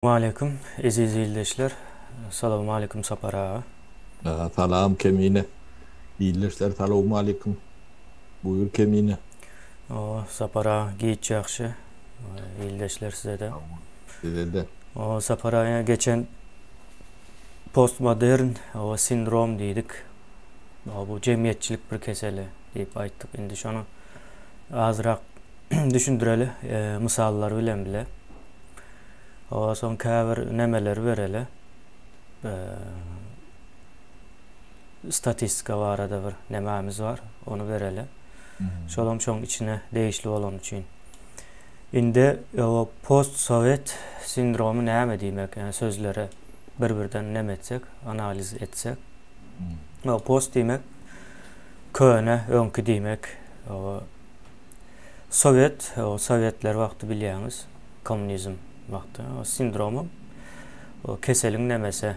Waleýkim eziz ildeşler. Salawmaleýkim Sapar aga. Salam Kemine. Ildeşler salawmaleýkim. Buýur Kemine. Oo Sapar aga giç ýagşy. Ildeşler sizede. Sizede. Oo Sapar aga geçen postmodern oba sindrom diýdik. Bu jemgyýetçilik bir keseli diýip aýtdyk. Indi şonu azyrak düşündireli mysallar bilen bile. Owa soň käbir nämeleri bereli. Statistika barada bir nämämiz bar, ony bereli. Şolam şoň içine degişli bolany üçin. Indi owa postsowet sindromy näme diýmek? Ýa sözleri bir-birden näme etsek, analiz etsek. Owa post diýmek köne, öňki diýmek. Owa Sowet, o sowetler wagty bilýäňiz, kommunizm wagty o sindromyň, o keseliň nemesi,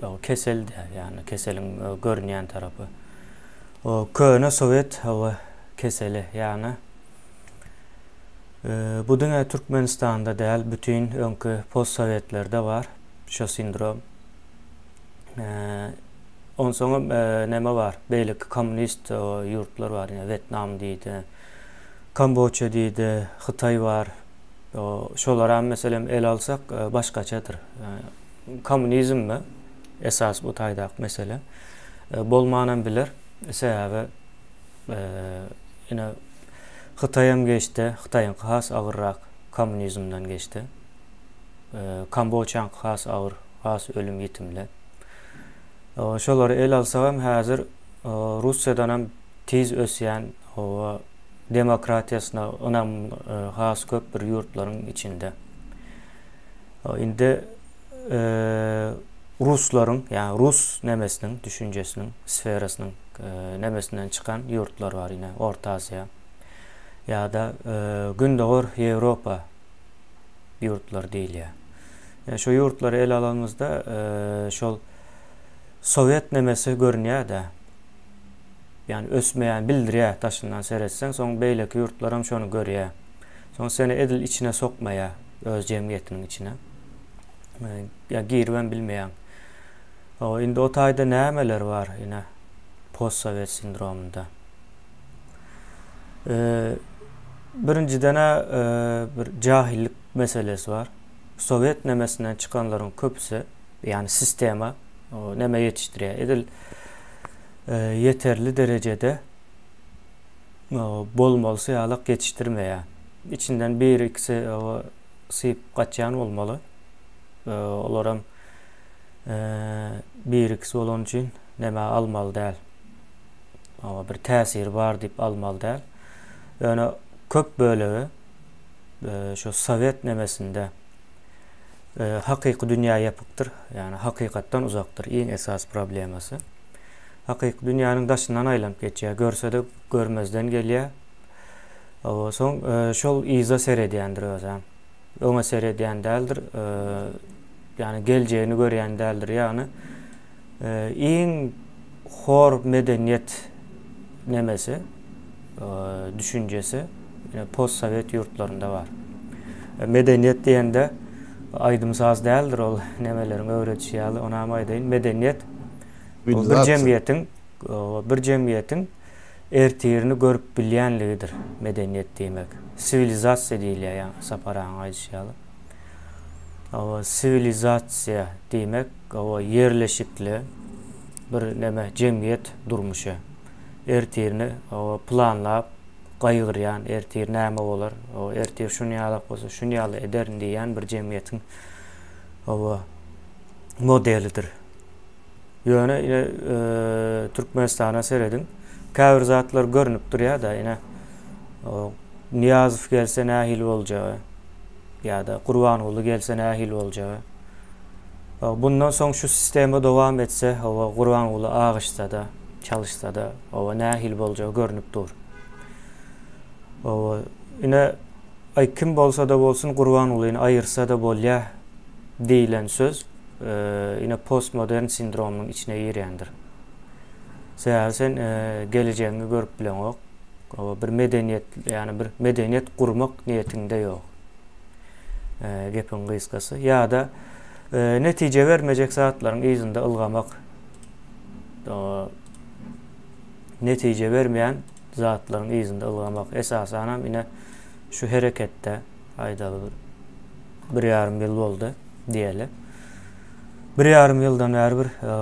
o kesel de, ýagny keseliň görünýän tarapy. O köne sowet o keseli, ýagny bu diňe Türkmenistanda däl, bütin öňki postsowetlerde bar şo sindrom. Onsoňam näme bar? Beýleki kommunist ýurtlar bar. Ýa Wetnam diýdi. Kamboça diýdi, Hytaý bar. Şolaram meselem ele alsak başgaçadyr. Kommunizmmi esas bu taýdaky mesele? Bolmanam biler. Sebäbi ine Hytaýam geçdi. Hytaýyňky has agyrrak kommunizmden geçdi. Kamboçaň has agyr, has ölüm ýitimli. Şolary el alsagam häzir Russiýadanam tiz ösýän we demokratiýasyna ynam has köp bir ýurtlaryň içinde. Indi ruslaryň, ýagny rus nemesiniň düşünjesiniň, sferasynyň nemesinden çykan ýurtlar bar ine Orta Aziýa ýa-da Gündogar Ýewropa ýurtlary diýilýär. Ýöne şu ýurtlary ele alanymyzda şol sowet nemesi görünýär-de. Ýani ösmeýän bildirýär daşyndan seretseň, soň beýleki ýurtlar hem şony görýär. Soň seni edil içine sokmaýar öz jemgyýetiniň içine. Ýa girip hem bilmeýäň. Indi o taýda nämeler bar ine post sowet sindromynda. Birinjiden-ä bir jahillik meselesi bar. Sowet nemesinden çykanlaryň köpüsi, ýagny sistema neme ýetişdirýär? Edil ýeterli derejede bolmaly syýalak ýetişdirmeýär. Içinden biri-ikisi syp gaçýan bolmaly. Olaram biri-ikisi bolany üçin neme almaly däl. oňa bir täsiri bar diýip almaly däl. Ýöne köp bölegi e, şu sowet nemesinde e, hakyky dünýä ýapykdyr. Ýani hakykatdan uzakdyr iň esasy problemasy. Hakyky dünýäniň daşyndan aýlanyp geçýär, görse-de görmezden gelýär. Owa, soň e, şol yza seredýändir özem. öňe seredýän däldir, ýagny geljegini görýän däldir. Ýagny iň hor medeniýet nemesi, düşünjesi postsowet ýurtlarynda bar. Medeniýet diýende aýdym-saz däldir ol nemeleriň öwredişi ýaly, onam aýdaýyn, medeniýet bir jemgyýetiň bir jemgyýetiň ertirini görüp bilýänligidir medeniýet diýmek. Siwilizasiýa diýilýär ýa Sapar agaň aýdyşy ýaly. Hawa, siwilizasiýa diýmek, hawa, ýerleşikli bir neme, jemgyýet durmuşy. Ertirini, hawa, planlap, gaýgyrýan, ertir näme bolar, hawa, ertir şuny ýalak bolsa, şuny ýaly ederin diýýän bir jemgyýetiň, hawa, modelidir. Ýöne ine Türkmenistana serediň. Käbir zatlar görnüp durýar-da ine Nyýazow gelse nähili boljagy ýa-da Gurbanguly gelse nähili boljagy. Bundan soň şu sistema dowam etse hawa Gurbanguly agyşsa-da, çalyşsa-da hawa nähili boljagy görnüp dur. Hawa ine aý kim bolsa-da bolsun Gurbangulyny aýyrsa-da bolýar. diýlen söz ine postmodern sindromynyň içine girýändir. Sebäbi sen e, gelejegiňi görüp bileňok. Bir medeniýet, ýani bir medeniýet gurmak niýetiňde ýok. E, gepiň gysgasy. Ýa-da e, netije bermejek zatlaryň yzynda ylgamak. Netije bermeýän zatlaryň yzynda ylgamak. Esasanam ine şu hereketde. Aýdaly bir bir ýarym ýyl boldy diýeli. Bir ýarym ýyldan bäri bir e,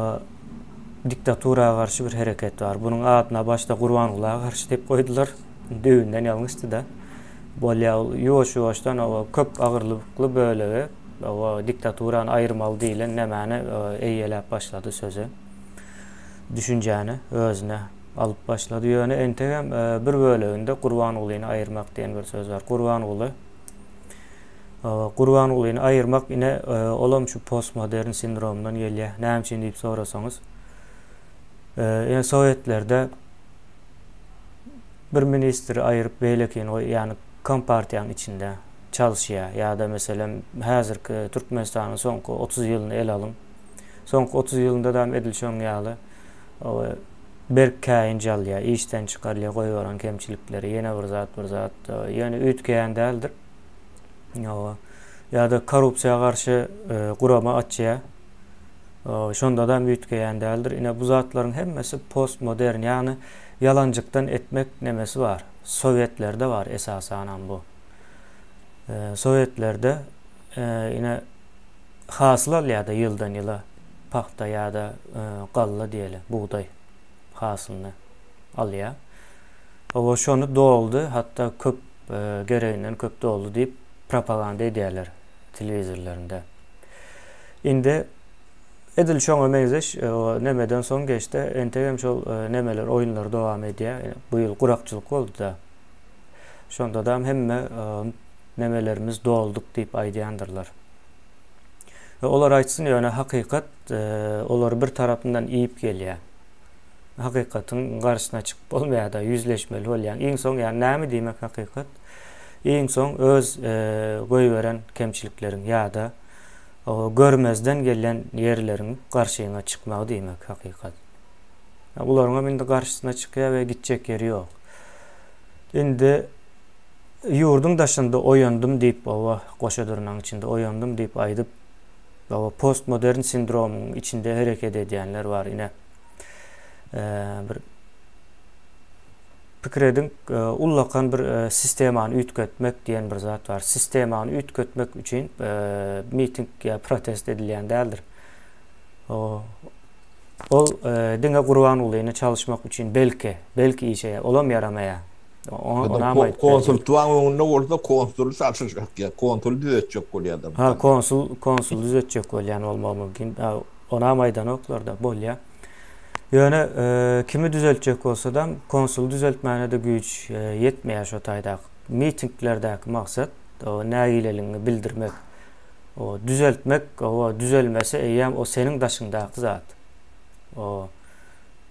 diktatura garşy bir hereket bar. Bunuň adyna başda Gurbangula garşy diýip goýdular. Düýnden ýalňyşdy-da. Bolýa ol ýuwaş-ýuwaşdan o köp agyrlykly bölegi o diktaturany aýyrmaly diýlen nämäni e, eýeläp başlady sözi. Düşünjäni özüne Alyp başlady. Ýöne entegem bir böleginde Gurbangulyny aýyrmak diýen bir söz bar. Gurbanguly Gurbangulyny aýyrmak ine olam şu postmodern sindromdan gelýär. Näme üçin diýip sorasaňyz. Ine sowetlerde bir ministri aýyryp beýlekini goý, ýagny kompartiýanyň içinde çalyşýar ýa-da meselem häzirki Türkmenistanyň soňky otuz ýylyny ele alyň. Soňky otuz ýylynda-da edil şoň ýaly. Olar berk käýinç alýar, işden çykarylýar, goýberen kemçilikleri, ýene bir zat, bir zat, ýöne üýtgeýän däldir. Oba. Ýa-da korrupsiýa garşy e, gurama açýar. Şonda da üýtgeýän däldir. Ine bu zatlaryň hemmesi postmodern, ýagny ýalanjykdan etmek nemesi bar. Sowetlerde bar esasanam bu. E, Sowetlerde e, ine hasyl alýar-da ýyldan-ýyla, pagta ýa-da galla diýeli, bugdaý hasylyny alýar. Oba şony doldy, hatda köp, gereginden köp doldy diýip, propaganda edýärler telewizorlarynda. Indi edil şoňa meňzeş nemeden soň geçdi, entegem şol nemeler, oýunlar dowam edýär. Bu ýyl gurakçylyk boldy-da. Şonda-da hemme memelerimiz dolduk diýip aýdýandyrlar. E, olar aýtsyn, ýöne hakykat e, olary bir tarapyndan iýip gelýär. Hakykatyň garşyna çykyp bolmaýar-da, ýüzleşmeli bolýaň. Iň soň, ýa näme diýmek hakykat? Iň soň öz e, goýberen kemçilikleriň ýa-da görmezden gelen ýerleriň garşyňa çykmagy diýmek hakykat. Bularyňam indi garşysyna çykýar we gitjek ýeri ýok. Indi Ýurduň daşynda oýandym diýip oba goşadyrnaň içinde oýandym diýip aýdyp oba postmodern sindromyň içinde hereket edýänler bar ine bir pikir ediň ullakan bir sistemany üýtgetmek diýen bir zat bar sistemany üýtgetmek üçin miting ýa protest edilýän däldir ol diňe gurbangulyny çalyşmak üçin belki belki işeýär olam ýaramaýar. Konsul tuwan öňünde bolsa konsul saçyşak ya konsul düzetjek bolýar da. Ha konsul konsul düzetjek bolýar bolmagy mümkin. Onam aýdanoklar da bolýar. Ýöne e, kimi düzeltjek bolsa-da konsul düzeltmäne de güýç e, ýetmeýär şo taýdaky. Mitinglerdäki maksat o nägileligiňi bildirmek. O düzeltmek, o düzelmese eýýäm o seniň daşyňdaky zat. O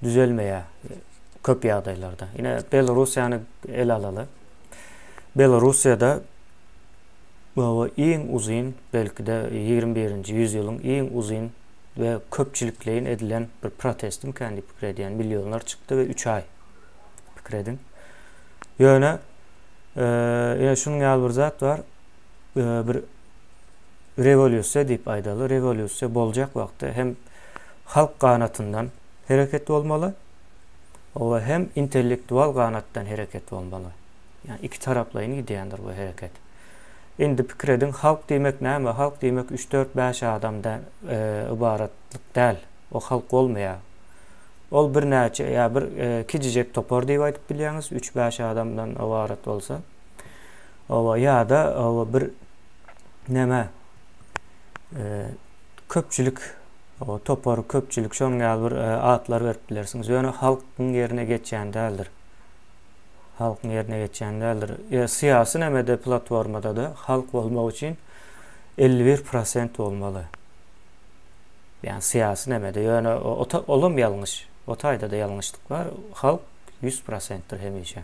düzelmeýär köp ýagdaýlarda. Ine Belorussiýany ele alaly. Belorussiýada bu iň uzyn, belki-de 21-nji ýüzýylyň iň uzyn we köpçülikleýin edilen bir protestmikä diýip pikir edýän. Millionlar çykdy we 3 aý pikir ediň. Ýöne ýene şunuň ýaly bir zat bar. Bir rewolýusiýa diýip aýdaly, rewolýusiýa boljak wagtda hem halk ganatyndan hereket bolmaly, oba hem intellektual ganatdan hereket bolmaly. Ýa iki taraplaýyn gidýändir bu hereket. Indi pikir ediň, halk diýmek näme? Halk diýmek üç, dört, bäş adam da ybaratlyk däl. O halk bolmaýar. Ol birnäçe ýa bir kijijek topar diýip aýdyp bilýäňiz, üç, bäş adamdan ybarat bolsa. Oba ýa-da oba bir näme köpçülik O topar köpçülik şoň ýaly bir atlar berip bilersiňiz. Ýöne halkyň ýerine geçýän däldir. Halkyň ýerine geçýän däldir. E, syýasy nämede platformada-da halk bolmak üçin 51% bolmaly. Ýani syýasy nämede. Ýöne olam ýalňyş. O taýda-da ýalňyşlyk bar. Halk 100%dir hemişe.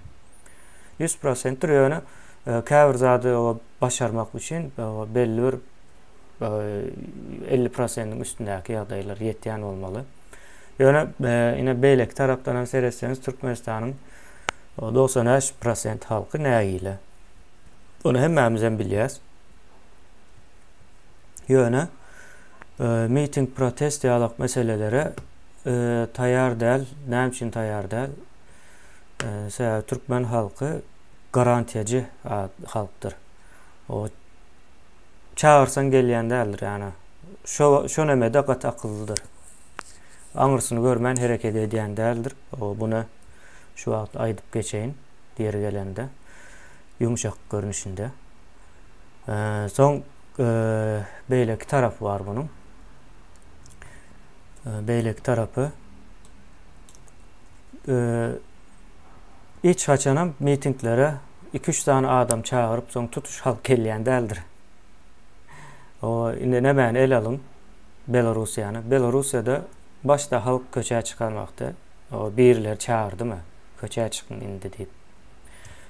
100%dir ýöne e, käbir zady başarmak üçin e, belli bir elli prosentiň üstündäki ýagdaýlar ýetýän bolmaly. Ýöne e, ine beýleki tarapdan hem seretseňiz Türkmenistanyň 95 prosent halky nägile. Ony hemmämiz hem bilýäs. Ýöne e, miting, protest ýalak meselelere e, taýýar däl. Näme üçin taýýar däl? E, sebäbi türkmen halky garantiýaçy halkdyr. O çagyrsaň gelýän däldir ýana. Şo şo nemede gaty akyllydyr. Aňyrsyny görmän hereket edýän däldir. O buna şu wagt aýdyp geçeýin ýeri gelende. Ýumşak görnüşinde. Soň beýleki tarapy bar bunuň. Beýleki tarapy hiç haçanam mitinglere Iki-üç sany adam çagyryp, soň tutuş halk gelýän däldir. O, indi nämäni ele alyň? Belorussiýany. Belorussiýada başda halk köçä çykan wagty, o, birileri çagyrdymy, köçä çykyň indi diýip?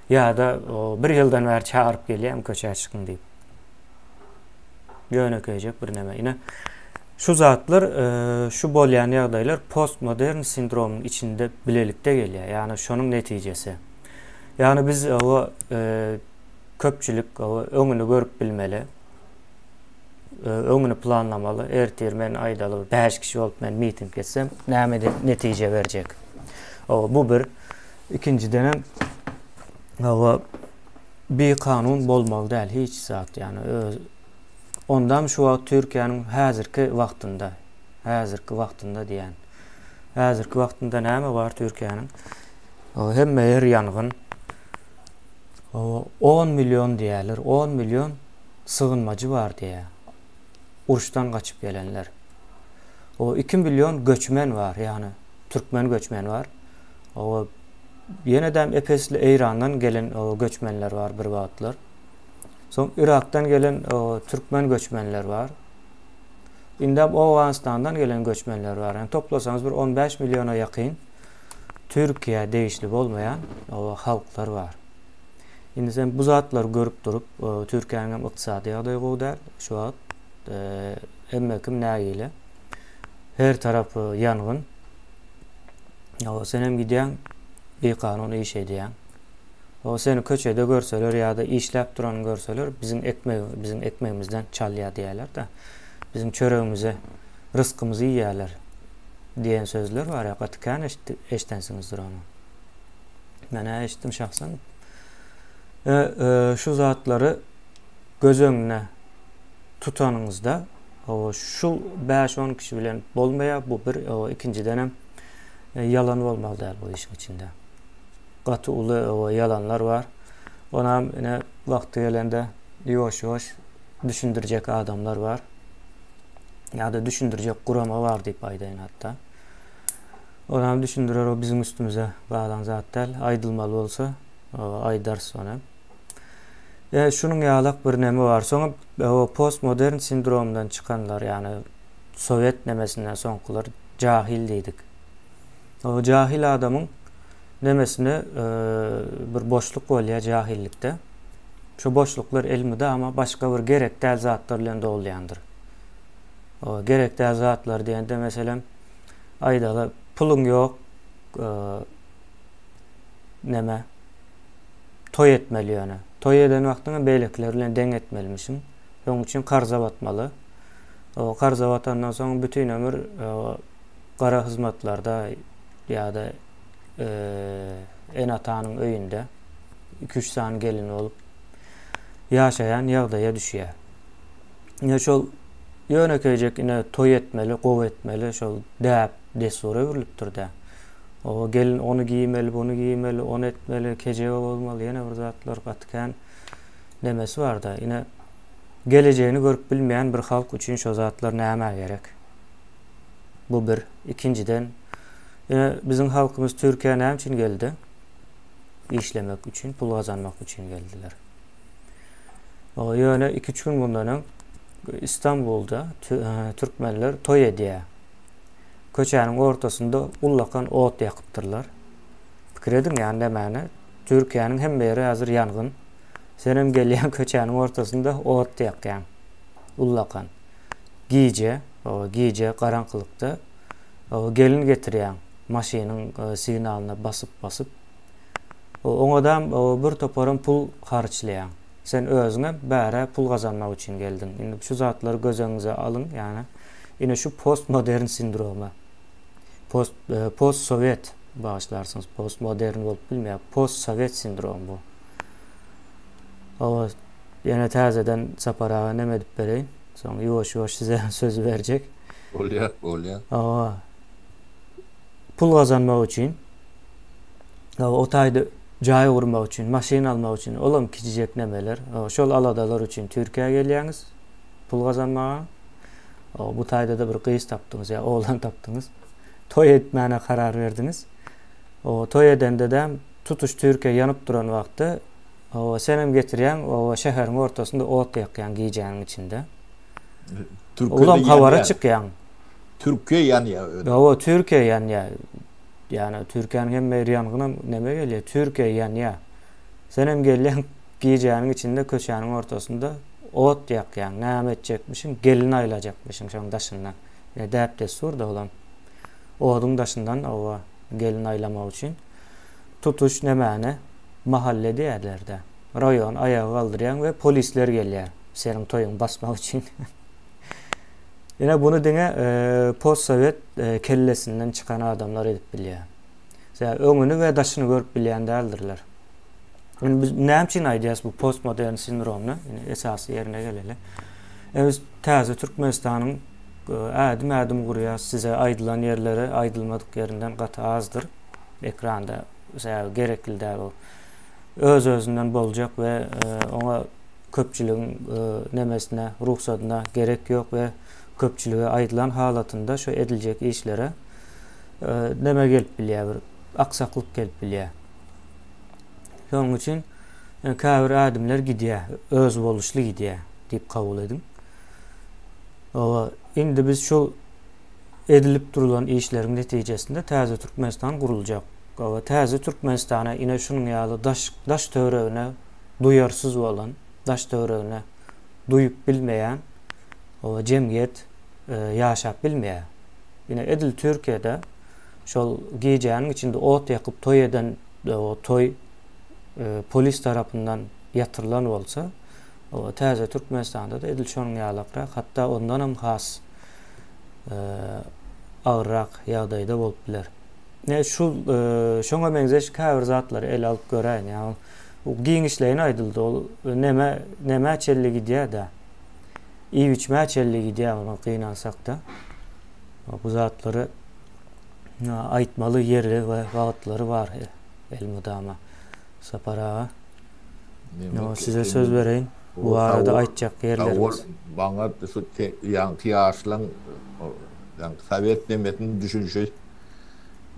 Ýa-da, o, bir ýyldan bäri çagyryp gelýärmi köçä çykyň diýip? Ýönekeýjek birneme. Ine, şu zatlar, e, şu bolýan ýagdaýlar postmodern sindromyň içinde bilelikde gelýär. Ýagny şonuň netijesi. Ýagny biz owa e, köpçülik owa öňüni görüp bilmeli. E, öňüni planlamaly. Ertir men aýdaly 5 kişi bolup men miting geçsem, näme netije berjek? Owa bu bir ikinjiden hem owa bir kanun bolmaly däl hiç zat ýagny öz Ondan şu wagt Türkiýäniň häzirki wagtynda, häzirki wagtynda diýen. Häzirki wagtynda näme bar Türkiýäniň? Hemme her ýangyn on million diýerler, on million sygynmajy bar diýýär. Uruşdan gaçyp gelenler. O 2 million göçmen bar, ýagny türkmen göçmeni bar. O ýene-de epesli Eýrandan gelen göçmenler bar bir wagtlar. Soň Irakdan gelen türkmen göçmenler bar. Indem Owganystandan gelen göçmenler bar. Yani toplasaňyz bir 15 milliona ýakyn. Türkiýä degişli bolmaýan halklar bar. Indi sen bu zatlary görüp durup, Türkiýäniň hem ykdysady ýagdaýy gowy däl şu wagt. Hemme kim nägile. Her tarap ýangyn. Ýa sen hem gidýäň, bikanun iş edýäň. O seni köçede görseler ýa-da işläp duranyny görseler, biziň ekmegi, biziň ekmegimizden çalýar diýerler-de. Biziň çöregimizi, rysgymyzy iýýärler. diýen sözler bar ýa gaty kän eşidensiňizdir ony. Menä eşitdim şahsan. E, e, şu zatlary göz öňüne tutanyňyzda o şu 5-10 kişi bilen bolmaýar bu bir o ikinjiden hem e, ýalan bolmaly däl bu işiň içinde. Gaty uly o ýalanlar bar. Onam ine wagty gelende ýuwaş-ýuwaş düşündirjek adamlar bar. ýa-da düşündirjek gurama bar diýip aýdaýyn hatda. Onam düşündirer, o biziň üstümize galan zat däl. Aýdylmaly bolsa, aýdarys ony. E, şunuň ýalak bir neme bar. Soňam e, o postmodern sindromdan çykanlar, ýagny sowet nemesinden soňkular jahil diýdik. O jahil adamyň nemesine e, bir boşluk bolýar jahillikde. Şu boşluklar elmydama başga bir gerek däl zatlar bilen dolýandyr. O gerek däl zatlar diýende meselem aýdaly puluň ýok e, neme toý etmeli ýöne. Toý eden wagtyňda beýlekiler bilen deň etmelimişiň. Şonuň üçin karza batmaly. O karza batandan soň bütin ömür e, gara hyzmatlarda ýa-da e, ene-atanyň öýünde 2-3 sany gelin bolup ýaşaýan ýagdaýa düşýär. ine şol ýönekeýjek ine toý etmeli, gowy etmeli şol däp, dessura öwrülipdir-dä. O gelin ony giýmeli, buny giýmeli, ony etmeli, kejebe bolmaly, ýene bir zatlar gaty kän nemesi bar-da. Ine gelejegini görüp bilmeýän bir halk üçin şo zatlar nämä gerek? Bu bir. Ikinjiden, ine biziň halkymyz Türkiýä näme üçin geldi? Işlemek üçin, pul gazanmak üçin geldiler. Ýöne iki-üç gün mundan öň Istanbulda türkmenler toý edýär. Köçäniň ortasynda ullakan ot ýakypdyrlar. Pikir ediň, ýa nämäni? Türkiýäniň hemme ýeri häzir ýangyn. Sen hem gelýäň köçäniň ortasynda ot ýakýaň. Ullakan. Gije, gije garaňkylykda gelin getirýäň maşynyň signalyna basyp-basyp. Oňadam bir toparam pul harçlaýaň. Sen özüňe bärä pul gazanmak üçin geldiň. Indi şu zatlary göz öňüňize alyň, ýagny ine şu postmodern sindromy. Post postsowet, bagyşlarsyňyz, postmodern bolup bilmeýär. Postsowet sindromy bu. Hawa, ýene täzeden Sapar aga neme edip bereýin. Soň ýuwaş-ýuwaş size sözi berjek. Bolýar, bolýar. Hawa. pul gazanmak üçin, o taýda jaý gurmak üçin, maşyn almak üçin, ol hem kiçijek nemeler. Şol aladalar üçin Türkiýä gelýäňiz pul gazanmaga. Bu taýda-da bir gyz tapdyňyz ýa oglan tapdyňyz. Toý etmäne karar berdiňiz. O toý edende-de tutuş Türkiýe ýanyp duran wagtda sen hem getirýäň, o şäheriň ortasynda ot ýakýaň gijäniň içinde. Türkiýede ýanýan. Ulam habara çykýaň. Türkiýe ýanýa özi. Hawa Türkiýe ýanýa. Ýana Türkiýäniň hemme ýeri ýangynam neme gelýä Türkiýe ýanýa. Senem gelýäň gijäniň içinde köçäniň ortasynda ot ýakýaň näme etjekmişiň gelin aýlajakmyşyň şoň daşyndan. Ine däp dessur da olam. Oduň daşyndan hawa gelin aýlamak üçin tutuş nemäni mahalle diýerlerdä. Raýony aýaga galdyrýaň we polisler gelýä seniň toýuňy basmak üçin. Ine buny diňe postsowet kellesinden çykan adamlar edip bilýär. Ýa öňüni we daşyny görüp bilýän däldirler. Indi biz näme üçin aýdýas bu postmodern sindromny? Indi esasy ýerine geleli. Biz täze Türkmenistanyň ädim-ädim gurýas. Size aýdylan ýerleri aýdylmadyk ýerinden gaty azdyr ekranda. Sebäbi gerekli däl o. Öz-özünden boljak we oňa köpçüligiň nemesine, rugsadyna gerek ýok we köpçülige aýdylan halatynda şu ediljek işlere neme gelip bilýär, bir aksaklyk gelip bilýär. Şonuň üçin käbir ädimler gidýär, özboluşly gidýär diýip kabul ediň. Oba, indi biz şu edilip durulan işleriň netijesinde täze Türkmenistan guruljak. Oba, täze Türkmenistana ine şunuň ýaly daş daş töweregine duýarsyz bolan, daş-töweregine duýup bilmeýän jemgyýet ýaşap bilmeýär. Ine, edil Türkiýede şol gijäniň içinde ot ýakyp toý eden toý polis tarapyndan ýatyrylan bolsa, täze Türkmenistanda-da edil şonuň ýalakrak, hatda ondan hem has agyrrak ýagdaýda bolup biler. Ine, şu şoňa meňzeş käbir zatlary ele alyp göräýin. Giňişleýin aýdyldy ol neme nämä çelli gidýädä. Iýip-içmä çelli gidýär onuň gynansakda. Bu zatlary aýtmaly ýeri we wagtlary bar elmydama Sapar aga. Ýa size söz bereýin. Bu barada aýtjak ýerlerimiz. Maňa şu ýaňky ýaşlaň ýaňky sowet nemesini düşünişi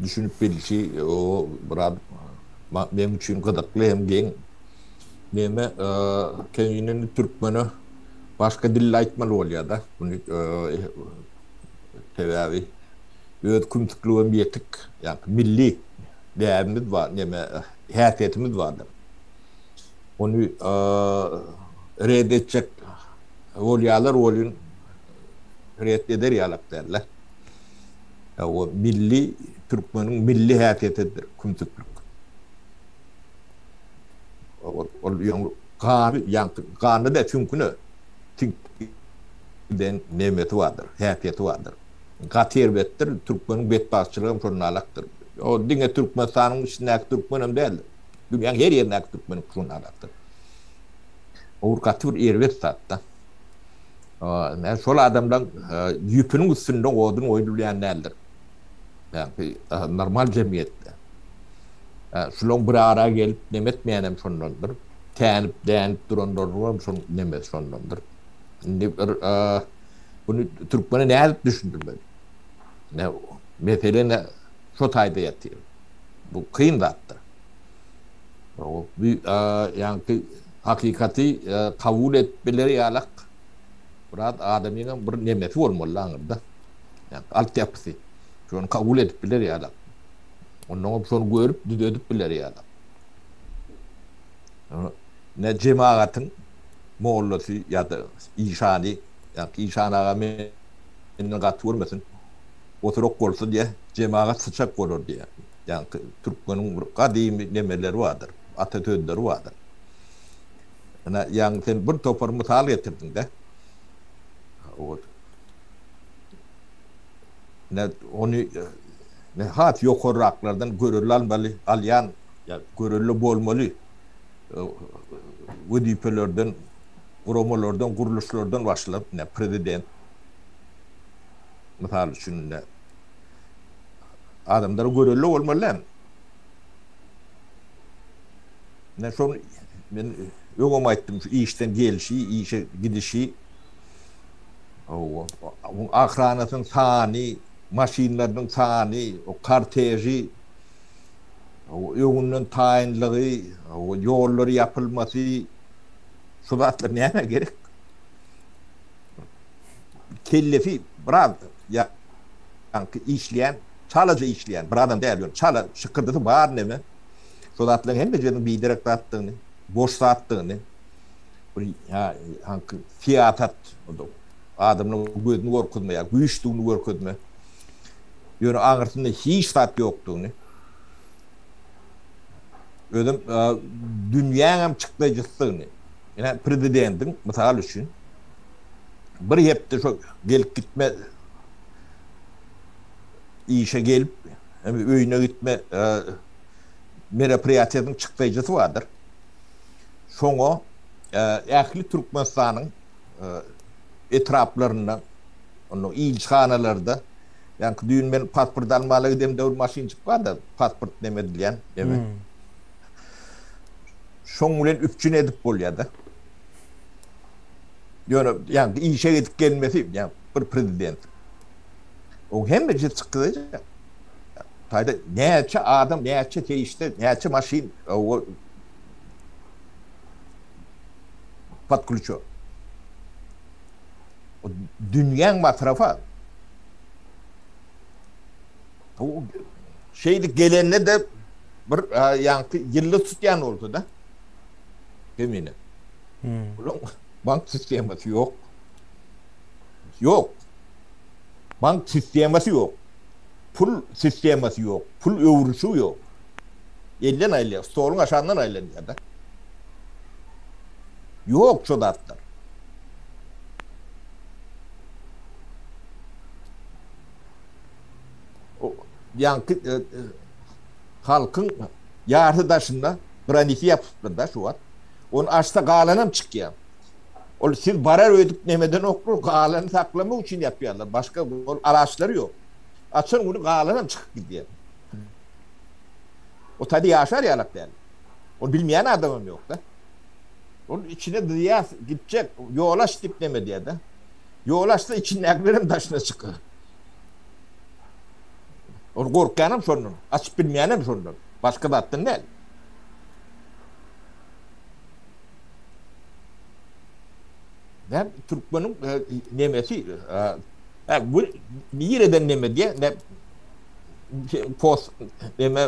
düşünip bilişi o biraz Meň üçin gyzykly hem geň. Meme keýnini türkmene başga dilde aýtmaly bolýar-da. Muny sebäbi öz kümsükligem ýetik. Ýa-da milli däbimiz bar, neme häsiýetimiz bardyr. Ony red etjek bolýarlar welin red eder ýalak däldir. Hawa, milli, türkmeniň milli häsiýetidir kümsüklik. Ol ýaňy gany, ýaňky ganda däl, süňküne siňip giden nemesi bardyr, häsiýeti bardyr. Gaty erbetdir, türkmeniň betbagtçylygy hem şondan alakdyr. Ol diňe Türkmenistanyň içindäki türkmen hem däl, dünýäniň her ýerindäki türkmeniňki şondan alakdyr. Ol gaty bir erbet zat-da. Şol adamlaň ýüpüniň üstünde odun goýulýan däldir. Ýagny normal jemgyýetde. Şulaň bir ara gelip neme etmeýänem şondandyr. Tänip, dänip duranlaryňam şoň nemesi şondandyr. Indi bir muny türkmene nädip düşündirmeli? Ine, mesele ine şo taýda ýatyr. Bu kyn zatdyr. Ýagny Hakykaty kabul edip biler ýalak biraz adamyňam bir nemesi bolmaly aňyrda. Ýa alt ýapysy. Şony kabul edip biler ýalak. Onnoňam şony görüp düzedip biler ýalak. Ne jemagatyň mollasy ýa-da işany, ýa işan aga menden gaty görmesin. Oturak bolsa diýýär, jemagat syçak bolar diýýär. Ýa türkmeniň bir gadymy nemeleri bardyr. ata sözleri bardyr. Ine, ýaňy sen bir topar mysal getirdiň-dä. Ol Ine, ony ine, has ýokarraklardan görelde almaly, alýan, ýa görelde bolmaly wezipelerden, guramalardan, gurluşlardan başlap, ine, prezident, mysal üçin, ine, adamlara görelde bolmaly däl. Men şony men öňem aýtdym, şu işden gelşi, işe gidişi, o ahranasynyň sany, maşynlarynyň sany, o korteži, öňünden taýynlygy, ýollary ýapylmasy, şu zatlar nämä gerek? Kellesi biraz ýaňky işleýän Çalaja işleýän bir adam däl, ýöne çala şykyrdysy bar neme. Şo zatlaryň hemmejiginiň biderek zatdygyny, boş zatdygyny, bir hanky syýasat, adamlaryň gözüni gorkuzma ýa güýçdügini görkezme, ýöne aňyrsynda hiç zat ýokdugyny, özem dünýäňem çykdajysydygyny, ine, prezidendiň, mysal üçin, bir hepde şo gelip gitme, işe gelip, öýüne gitme meropriýatiýasynyň çykdaýjysy bardyr. Şoňa ähli Türkmenistanyň etraplaryndan, onda ilçihanalarda, ýaňky düýn men pasport almala gidemde bir maşynjyk bardy, pasport neme edilýän, neme. Şoň bilen üpjün edip bolýar-da. Ýöne ýaňky işe gidip gelmesi, ýa bir prezident. O hemme jyp çykdajak. Taýda näçe adam, näçe serişde, näçe maşyn o podklýuço. O dünýäň masrafa. O şeýdi gelende de bir ýaňky ýylda tutýan bolsa da. Demine. Hmm. Bank sistemasy ýok. Ýok. Bank sistemasy ýok. Pul sistemasy ýok. Pul öwrülişigi ýok. Elden aýylýar, stoluň aşagyndan aýlanýar-da. Ýok şo zatlar. Ýaňky halkyň ýarty daşynda graniti ýapypdyr-da şu wagt. Ony açsa galanam çykýar. Ol siz barar öýdüp nemeden oklar galany saklamak üçin ýapýarlar. Başga ol alaçlary ýok. Açan güni galanam çykyp gidýär. O taýda ýaşar ýalak däl. Ol bilmeýän adamam ýokda. Ol içine dyýas gitjek ýol aç diýip neme diýerde. Ýol açsa içindäkilerem daşyna çykar. Ol gorkýanam şondan, açyp bilmeýänem şondan. Başga zatdan däl. Näm türkmeniň nemesi ha bu nireden neme diye ne post neme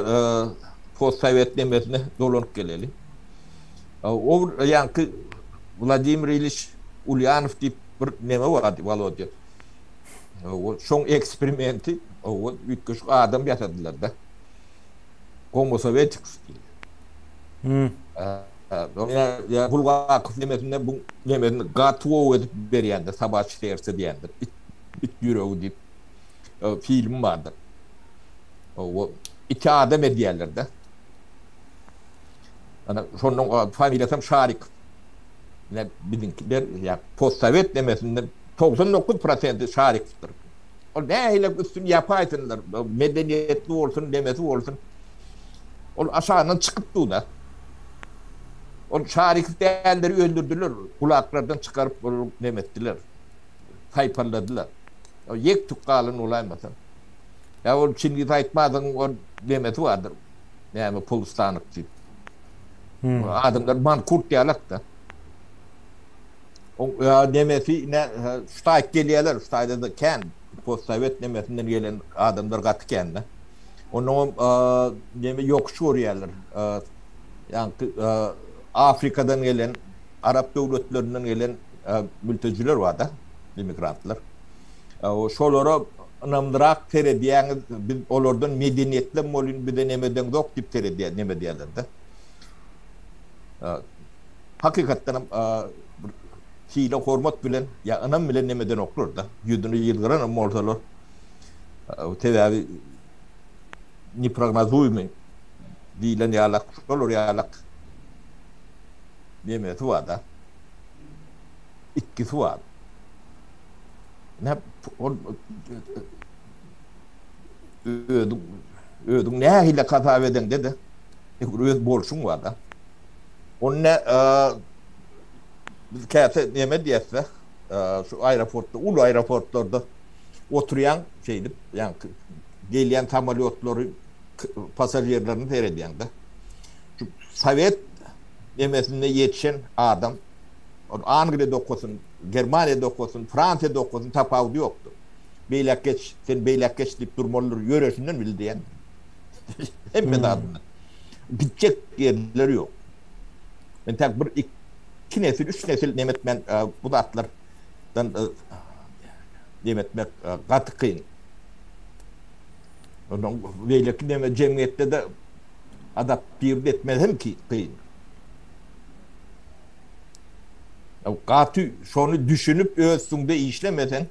post sovet nemesine dolanyp geleli. O yankı Vladimir Iliş Ulyanov diýip bir neme bardy Volodya. O şoň eksperimenti o üýtgeşik adam ýasadylar da. Homo soveticus diýildi. Hmm. Ýa Bulgakow nemesinde bu nemesini gaty gowy edip berýändir, Sabaçi serse diýendir. It, it ýüregi diýip film bardyr. O iki adam edýärler-de. Ana şonuň familiýasy hem Şarik. Ne biziňkiler ýa postsowet nemesinde 99% Şarikdir. Ol nähili üstün ýapaýsynlar, medeniýetli bolsun, demesi bolsun. Ol aşagyndan çykyp dur-da. Ol şarik dälleri öldürdiler, gulaklardan çykaryp olar neme etdiler, saýpalladylar. Ol ýek-tük galan bolaýmasa. Ýa ol Çingiz Aýtmazyň ol nemesi bardyr, näme polustanyk diýip. Adamlar mankurt ýalak-da. Oň nemesi ine şu taýyp gelýärler, şu taýda-da kän postsowet nemesinden gelen adamlar gaty kän-de. Onnoňam neme ýokuş görýärler. Ýaňky Afrikadan gelen, arap döwletlerinden gelen mültejüler bar-da, immigrantlar. Şolara ynamlyrak seredýäňiz, biz olardan medeniýetlem bolýun, bize neme deňzok diýip seredýär, neme diýerler-de. Hakykatdanam bir hile-hormat bilen ýa ynam bilen neme edenoklar-da. Ýüzüni ýylgyranam bolsalar, Sebäbi neprognozuýmy diýlen ýalak şolar ýalak nemesi bar-da. Itkisi bar. Näp ol özüň özüň nähili hasap edeňde-de öz bolşuň bar-da. Ony nä biz käte neme diýäs-de, şu aeroportda, uly aeroportlarda oturýaň şeýdip, ýaňky gelýän samolýotlary passažirlerine seredýäň-de. Şu sowet nemesinde ýetişen adam, ol Angliýada okasyn, Germaniýada okasyn, Fransiýada okasyn, tapawudy ýokdur. Beýläk geç, sen beýläk geç diýip durmalydyr, ýöresinden bil diýen. Hemme zadyna. Gitjek ýerleri ýok. Men tä bir, iki nesil, üç nesil nemetmän bu zatlar dan dem etmek gaty kyn. Ondan beýleki neme jemgyýetde-de adaptiwt etmek hem kyn. Gaty şony düşünip öz üstüňde işlemeseň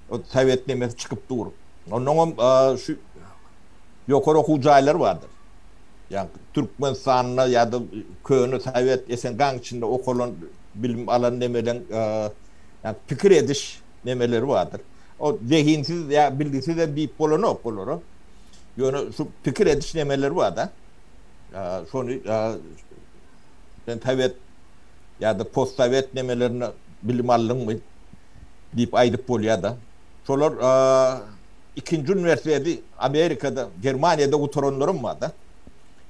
o sowet nemesi çykyp dur. Ondan hem şu ýokary okuw jaýlary bardyr. Ýa Türkmenistanda ýa-da köne sowet SNG-niň içinde okalan bilim alan nemeleň ýa pikir ediş nemeleri bardyr. O zehinsiz ýa bilgisiz hem diýip bolanok olara. Ýöne şu pikir ediş nemeleri bar-da. Şony sen sowet ýa-da postsowet nemelerinde bilim aldyňmy diýip aýdyp bolýar-da. Şolar ikinji uniwersiteti Amerikada, Germaniýada gutaranlaram bar-da.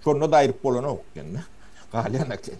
Şonda-da aýryp bolanok ýene. Galýan eken.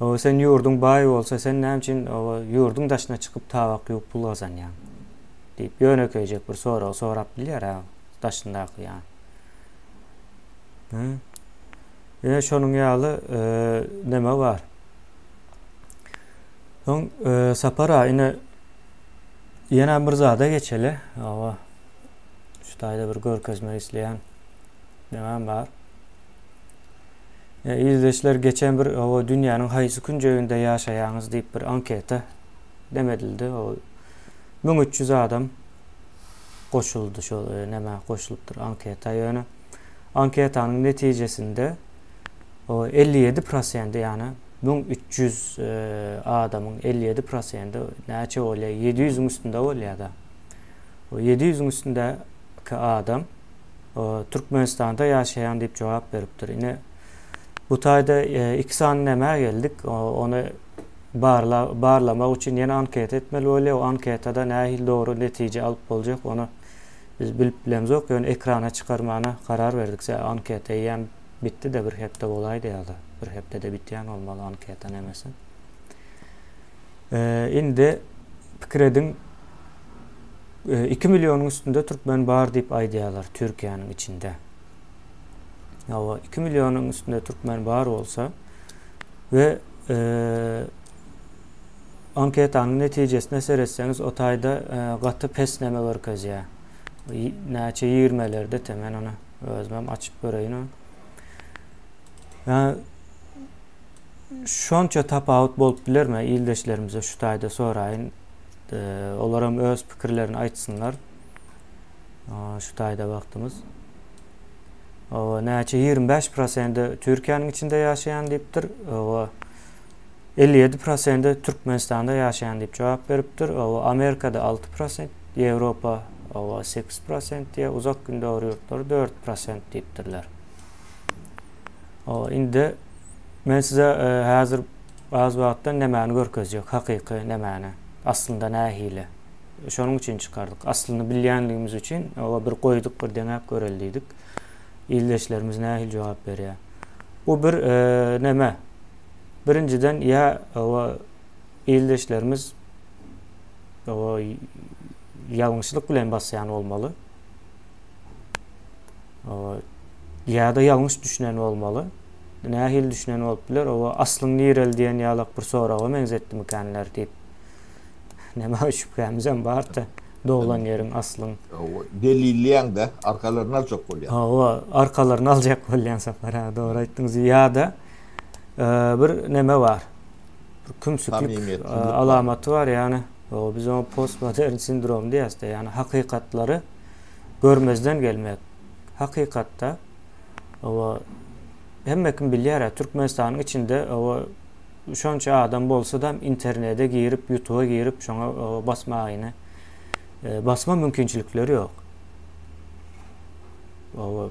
Oba sen ýurduň baý bolsa sen näme üçin oba ýurduň daşyna çykyp tabak ýuwup pul gazanýaň? diýip ýönekeýjek bir sorag sorap bilýär ha daşyndaky ýa. Ýene şonuň ýaly näme bar? Soň Sapara ine ýene bir zada geçeli. Oba şu taýda bir görkezmek isleýän näme bar? Ildeşler geçen bir hawa dünýäniň haýsy künjeginde ýaşaýaňyz diýip bir anketa dem edildi. Müň üç ýüz adam goşuldy şol nämä goşulypdyr anketa ýöne anketanyň netijesinde o elli ýedi prosendi ýany müň üç ýüz adamyň elli ýedi prosendi näçe bolýar ýedi ýüzüň üstünde bolýada o ýedi ýüzüň üstündäki adam Türkmenistanda ýaşaýan diýip jogap beripdir. Ine bu taýda e, iki sany nämä geldik? Ony barla, barlamak üçin ýene anketa etmeli bolýar. O anketada nähili dogry netije alyp boljak, ony biz bilip bilemzok. Ýöne ekrana çykarmana karar berdik. Sä anketa eýýäm bitdi-de bir hepde bolaýdy ýa-da bir hepdede bitýän bolmaly anketa nemesi. E, indi pikir ediň Iki millionyň üstünde türkmen bar diýip aýdýarlar Türkiýäniň içinde. Ýa iki millionyň üstünde türkmen bar bolsa we e, anketanyň netijesine seretseňiz o taýda e, gaty pesneme görkezýär. Näçe ýigirmelerde te men ony özüm açyp göreýin. Yani, şonça tapawut bolup bilermi ildeşlerimize şu taýda soraýyn. Olar hem öz pikirlerini aýtsynlar. Şu taýda wagtymyz. Owa, näçe 25% Türkiýäniň içinde ýaşaýan diýipdir. Owa, 57% Türkmenistanda ýaşaýan diýip jogap beripdir. Owa, Amerikada 6%, Ýewropa owa 8% diýe, uzak gündogar ýurtlary 4% diýipdirler. Owa, indi men size e, häzir Az wagtdan nämäni görkezjek, hakyky nämäni, aslynda nähili. Şonuň üçin çykardyk. Aslyny bilýänligimiz üçin oba bir goýduk, bir deňäp göreli diýdik. Ildeşlerimiz nähili jogap berýär. Bu bir näme? Birinjiden ýa oba ildeşlerimiz oba ýalňyşlyk bilen basýan bolmaly. ýa-da ýalňyş düşünen bolmaly. Nähili düşünen bolup biler? Owa, aslyň nireli diýen ýalak bir soraga meňzetdimikanler diýip. Näme şübhämizem bar-da, doglan ýeriň aslyň. Owa, delilleýäň-de, arkalaryny aljak bolýaň. Owa, arkalaryny aljak bolýaň Sapar aga, dogry aýtdyňyz. Ýa-da bir näme bar? bir kümsüklik alamaty bar, ýagny biz oňa postmodern sindrom diýýäs-de, ýagny hakykatlary görmezden gelmek. Hakykatda oba hemme kim bilýär, Türkmenistanyň içinde oba şonça adam bolsa-da internete girip, ýutuba girip şoňa basmagyny e, basma mümkinçilikleri ýok. Oba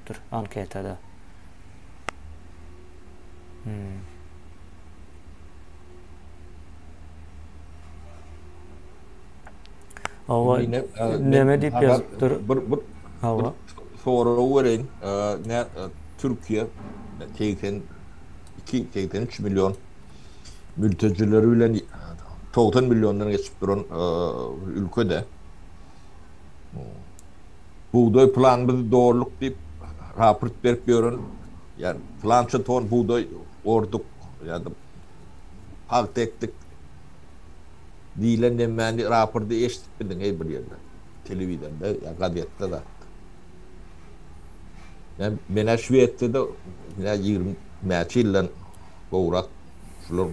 dur anketada. Hmm. Ava neme diýip ýazypdyr? Bir bir Ava. Sorag bereýin. Ne Türkiýe 82 83 million mültecileri bilen 90 milliondan geçip duran ülke de. Hmm. Bugdaý planymyzy dolduk diýip raport berip ýören ýa plança ton bugdaý orduk ýa-da pagta ekdik diýlen nemmäni rapordy eşidip bildiň heý bir ýerde telewizorda ýa gazetde zatda. Men menä Şwesiýada menä ýigrimi näçe ýyldan gowrak şular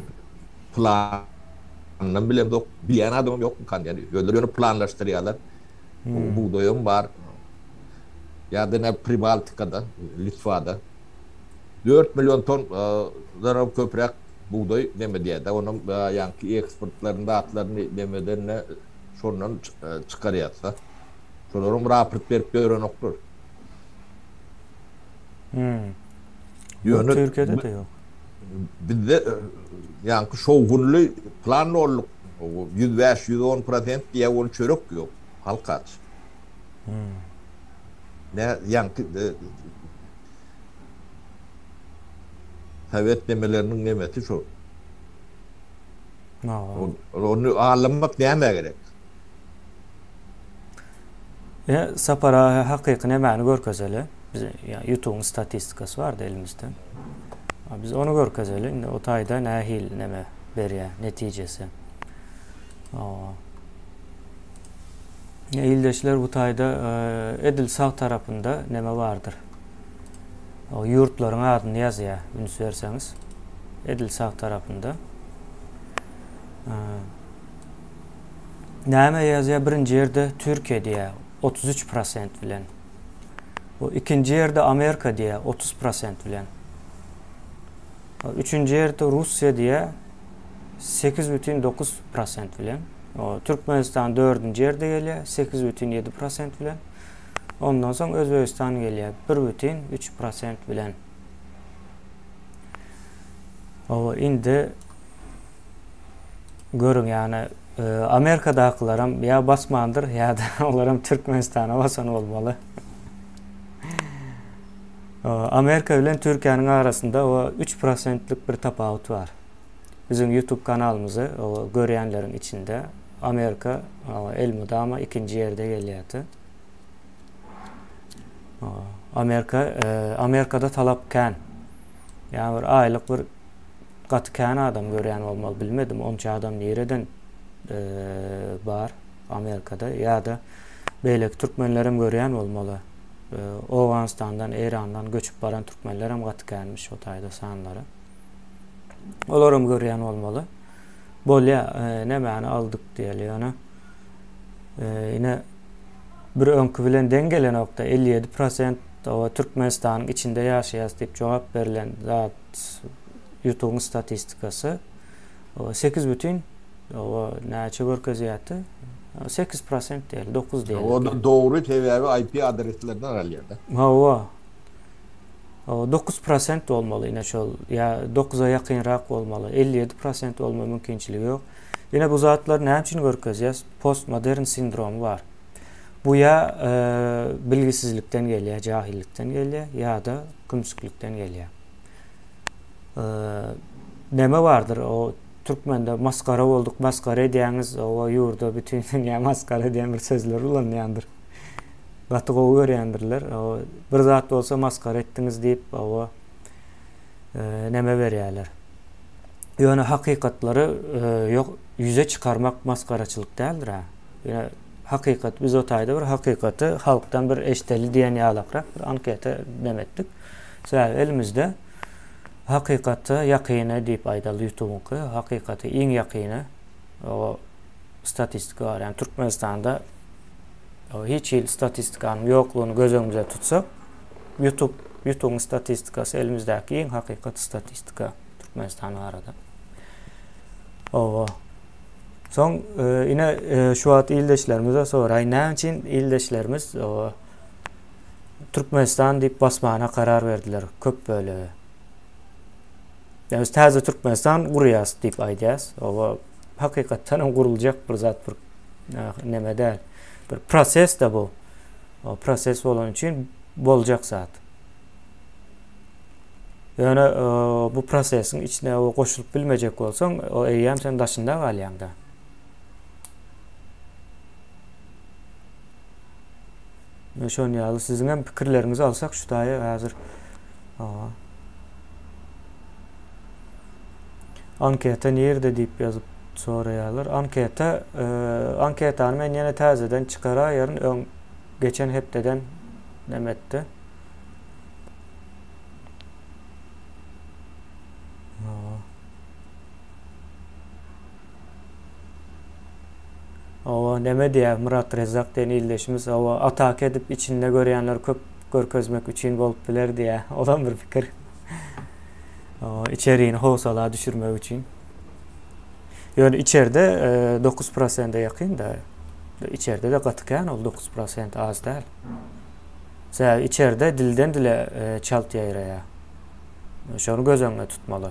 plan bilemzok, bilýän adamym ýok, ýöne özleri ýöne planlaşdyrýarlar. Bu bugdaýam bar. Ýa-da näme Pribaltikada, Litwada dört million ton danam köpräk bugdaý näme diýýär-de, onam ýaňky eksportlaryny zatlaryny näme edende şondan çykarýas-da. Şolaram raport berip ýörenoklar. Hum. Ýöne Türkiýede-de ýok. Bizde ýaňky şowhunly plan dolduk. Ýüz bäş, ýüz on prosent diýýä ol çörek ýok. Halk aç. Nä ýaňky Sowet nemeleriniň nemesi şo. Ony alanmak nämä gerek? Ýa sapar aga hakyky nemäni görkezeli? Biz ýa ýutubyň statistikasy bardy elimizde. Biz ony görkezeli. Indi o taýda nähili neme? berýär netijesi. Ildeşler bu taýda edil sag tarapynda näme bardyr? O ýurtlaryň adyny ýazýar, üns berseňiz. Edil sag tarapynda. Näme ýazýar? Birinji ýerde Türkiýe diýär 33% bilen. Bu ikinji ýerde Amerika diýär 30% bilen. Üçünji ýerde Russiýa diýýär, sekiz bütin dokuz prosent bilen. Türkmenistan dördünji ýerde gelýär, sekiz bütin ýedi prosent bilen. Ondan soň Özbegistan gelýär, bir bütin üç prosent bilen. Oba, indi görüň, ýagny e, Amerikadakylar hem ýa basmandyr, ýa-da olar hem Türkmenistana basan bolmaly. Amerika bilen Türkiýäniň arasynda o üç prosentlik bir tapawut bar. Biziň YouTube kanalymyzy görýänleriň içinde Amerika elmydama ikinji ýerde gelýärdi. Amerika e, Amerikada talap kän. Ýa bir aýlyk bir gaty kän adam görýän bolmaly bilmedim onça adam nireden e, bar Amerikada ýa-da beýleki türkmenlerem görýän bolmaly. Owganystandan, Eýrandan göçüp baran türkmenler hem gaty känmiş o taýda sanlary. Olar hem görýän bolmaly. Bolýa, e, nämäni aldyk diýeli ýöne. E, ine bir öňki bilen deň gelenokda 57% owa Türkmenistanyň içinde ýaşaýas diýip jogap berlen zat ýutugyň statistikasy. Oba sekiz bütin oba näçe görkezýärdi? Sekiz prosent diýeli, dokuz diýeli. Onda dogry sebäbi IP adreslerden galýada. Hawa. Oba dokuz prosent bolmaly ine şol ýa dokuza ýakynrak bolmaly. Elli ýedi prosent bolma mümkinçiligi ýok. Ine bu zatlar näme üçin görkezýär? Postmodern sindromy bar. Bu ýa bilgisizlikden gelýär, jahillikden gelýär ýa-da kümsüklikden gelýär. näme bardyr o türkmende masgara bolduk masgara edýäňiz oba ýurda bütün dünýä masgara diýen bir sözler ulanýandyr gaty gowy görýändirler bir zat bolsa masgara etdiňiz diýip oba e, näme berýärler ýöne hakykatlary e, ýok ýüze çykarmak masgaraçylyk däldir ha hakykat biz o taýda bir hakykaty halkdan bir eşdeli diýen ýalakrak bir anketa demetdik Sebäbi elimizde hakykata ýakyny diýip aýdaldy ýutubyňky hakykata iň ýakyny o statistika bar ýagny türkmenistanda hiç hili statistikanyň ýoklugyny göz öňümizde tutsak ýutub ýutubyň statistikasy elimizdäki iň hakykat statistika türkmenistan barada oba soň e, ine e, şu wagt ildeşlerimize soraý näme üçin ildeşlerimiz oba Türkmenistan diýip basmana karar berdiler köp bölegi. Yani biz täze Türkmenistan gurýas diýip aýdýas. Oba hakykatdan hem guruljak bir zat bir neme däl. Bir proses de bu. O proses bolan üçin boljak zat. Yani e, bu prosesin içine o goşulup bilmejek bolsaň, o eýýäm sen daşynda galýaň da. Şon ýaly siziň hem pikirleriňizi alsak şu daýy hazır. Anketa nirde diýip ýazyp soraýarlar. Anketa e, anketany men ýene täzeden çykaraýaryn öň geçen hepdeden demetdi. Hawa näme diýýär Myrat Rezzak diýen ildeşimiz hawa ataka edip içinde görýänleri köp görkezmek üçin bolup biler diýýär. Olam bir pikir. Hawa içerini howsala düşürmek üçin. Ýöne içerde 9% e, ýakyn da. İçerde de gaty kän ol 9% az däl. Sebäbi içerde dilden dile e, çalt ýaýraýar. Şony göz öňünde tutmaly.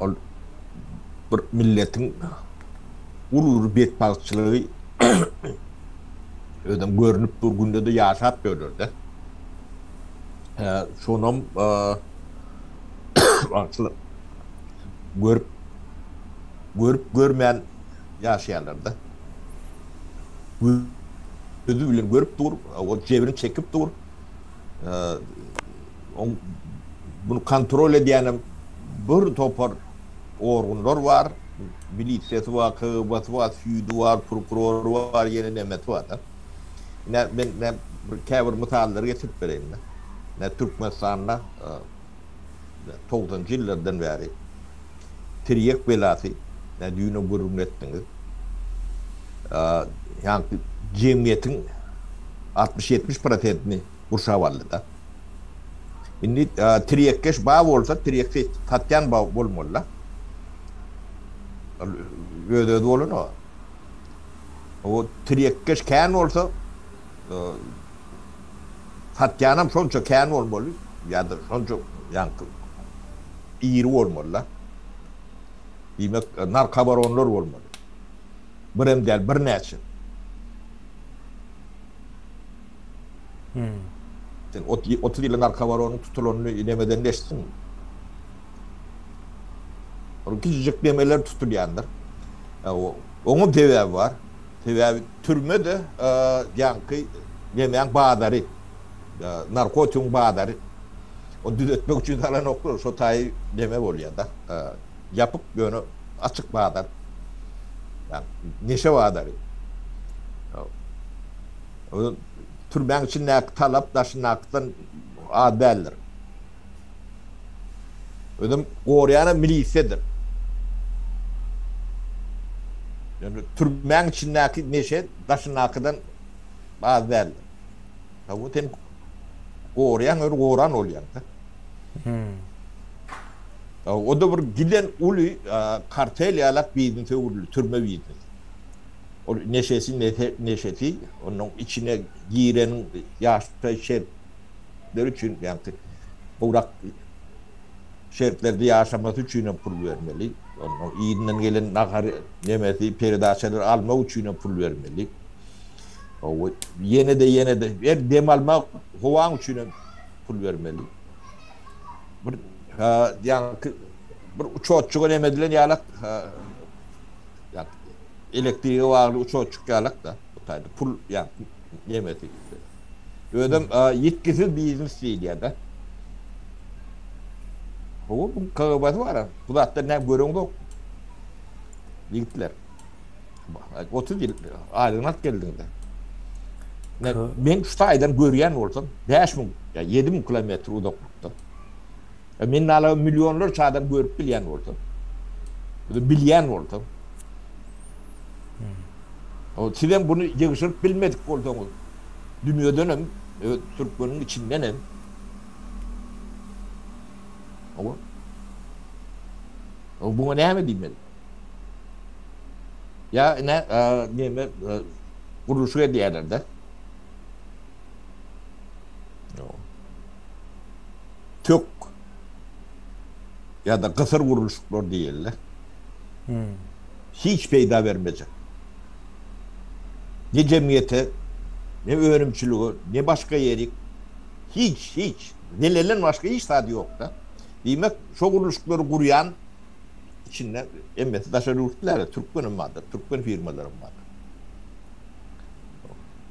Ol bir milletiň uly bir betbagtçylygy özem görünip dur günde-de ýaşap ýörler-de. Hä, şonam wagtly görüp görüp görmän ýaşaýarlar-da. Gözi bilen görüp dur, o jebrini çekip dur. Oň muny kontrol edýänem bir topar organlar bar. Milisiýasy bar, KGB-si bar, süýdi bar, prokurory bar, ýene nemesi bar-da. Ine, men käbir mysallary getirip bereýin-de. Ine, Türkmenistanda togsanjy ýyllardan bäri tirýek belasy, ine, düýn-ä gürrüňini etdiňiz, ýaňky jemgyýetiň altmyş-ýetmiş prosentini gurşap aldy-da. Indi tirýekkeş ba bolsa, tirýek satýan ba bolmaly-da. Ol öz-özi bolan-a. O tirýekkeş kän bolsa, satýanam şonça kän bolmaly ýa-da şonça ýaňky iri bolmaly-da. Diýmek, narkobaronlar bolmaly. Birem däl, birnäçe. Hum. Sen ot otuz ýylyň arka bar onuň tutulanyny nemeden eşitdiňmi? Ol kiçijik nemeler tutulýandyr. Oňa sebäbi bar. Sebäbi türme-de ýaňky nemäň bazary. Narkotigiň bazary. Ony düzetmek üçin salanoklar. Şo taýy neme bolýa-da. Ýapyk ýöne açyk bazar. Ýa neşe bazary. Türmäň içindäki talap daşyndakydan az däldir. Özem gorýanam milisiýadyr. Ýöne türmäň içindäki neşe daşyndakydan az däldir. Hawa sen gorýan öri goran bolýaňda. Hmm. O da bir giden uly kartel ýalak bizni sögürli, türme bizni. Ol neşesi neşesi onuň içine giren ýaşdaý şertler üçin ýagny gowrak şertlerde ýaşamasy üçin hem pul bermeli. Onuň yzyndan gelen nahar nemesi peredaçalary almak üçin hem pul bermeli. Hawa ýene-de ýene-de her dem almak howaň üçin hem pul bermeli. Bir ýagny bir uçotjyga neme edilen ýalak Ýagny elektrige bagly uçar çykýalak-da bu taýda pul ýagny nemesi ýüzde. Özem ýitgisiz biznes diýilýär-de. Hawa bu kagybazy bar-a. Bu zatdan näme göreňzokmy? Ýigitler. Otuz ýyl aýlygyny alyp geldiňiz-de. Men şu taýdan görýän bolsam, bäş müň, ýa ýedi müň kilometr uzaklykda. Men nala millionlarça adam görüp bilýän bolsam, bilýän bolsam, sizem buny ýygşyryp bilmedik bolsaňyz, dünýedenem, türkmeniň içindenem, buňa näme diýmeli? Ýa ine, näme, gurluşyk edýärler-de. tök ýa-da gysyr gurluşyklar diýildi. Hiç peýda bermejek. Ne jemgyýete, ne önümçilige, ne başga ýerik, hiç, hiç, zelelden başga hiç zady ýok-da. Diýmek, şo gurluşyklary gurýan içinde hemmesi daşary ýurtly däl-de, türkmenem bardyr, türkmen firmalarym bardyr.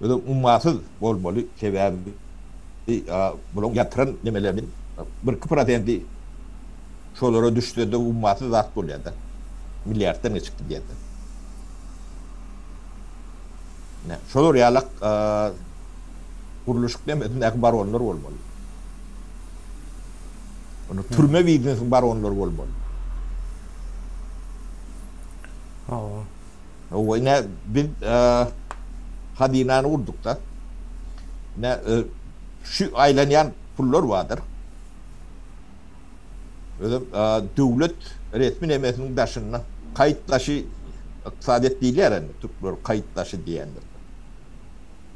özem ummasyz bolmaly sebäbi bulaň ýatyran nemeleriniň birki prosendi şolara düşsede ummasyz zat bolýada milliarddan geçip gidýada şolar ýalak gurluşyk nemesindäki baronlar bolmaly ony türme biznesiň baronlary bolmaly hawa Howwa ine biz hazynany gurdukda ine şu aýlanýan pullar bardyr. Özem döwlet resmi nemesiniň daşynda kaýyt daşy ykdysadyýet diýilýär indi türkler kaýyt daşy diýendir.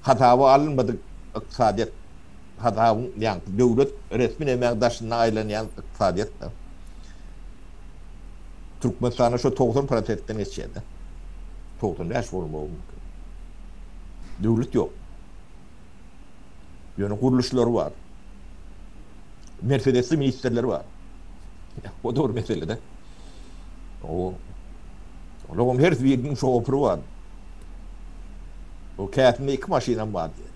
Hasaba alynmadyk ykdysadyýet. Hazabyň ýaňky döwlet resmi nämäň daşynda aýlanýan ykdysadyýetdir. Türkmenistanda şo togsan prosentden geçýär-de. Togsan bäş bolmagy mümkin. Döwlet ýok. Ýöne gurluşlary bar. Mersedesli ministrler bar. O-da bir mesele-de. O, olaryň her biriniň şofyry bar. O käsinde iki maşynam bar diýýär.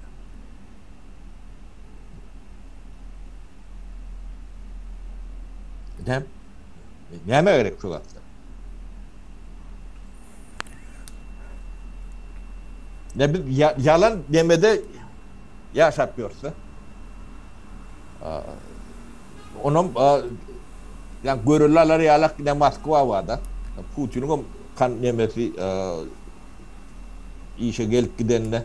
Näme? Näme gerek şu wagtda? Ne biz ya, yalan demede yaşap görse. Onun yani gorillalar yalak ne Moskva var da. Putin'in kan nemesi işe gelip gidenine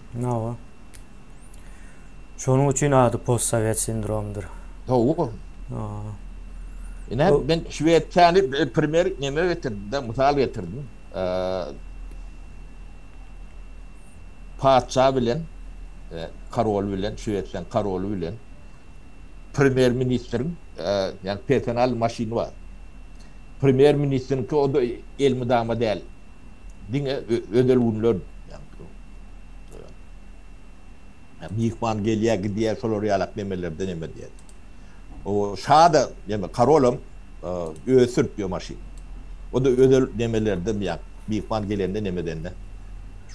Hawa. Şonuň üçin ady postsowet sindromydyr. Hawa. Haa. Ine, men Şwesiýany primer neme getirdim-de, mysal getirdim. Patyşa bilen, korol bilen, Şwesiýanyň koroly bilen primer ministriň, ýagny personal maşyny bar. Primer ministriňki o-da elmydama däl. Diňe özel günler, ýagny Myhman gelýär, gidýär, şolar ýalak nemelerden eme diýýär. O şa-da, ýagny karolam özi sürüp ýör maşyny. O-da özel nemelerden diýýär. Myhman gelende nemedende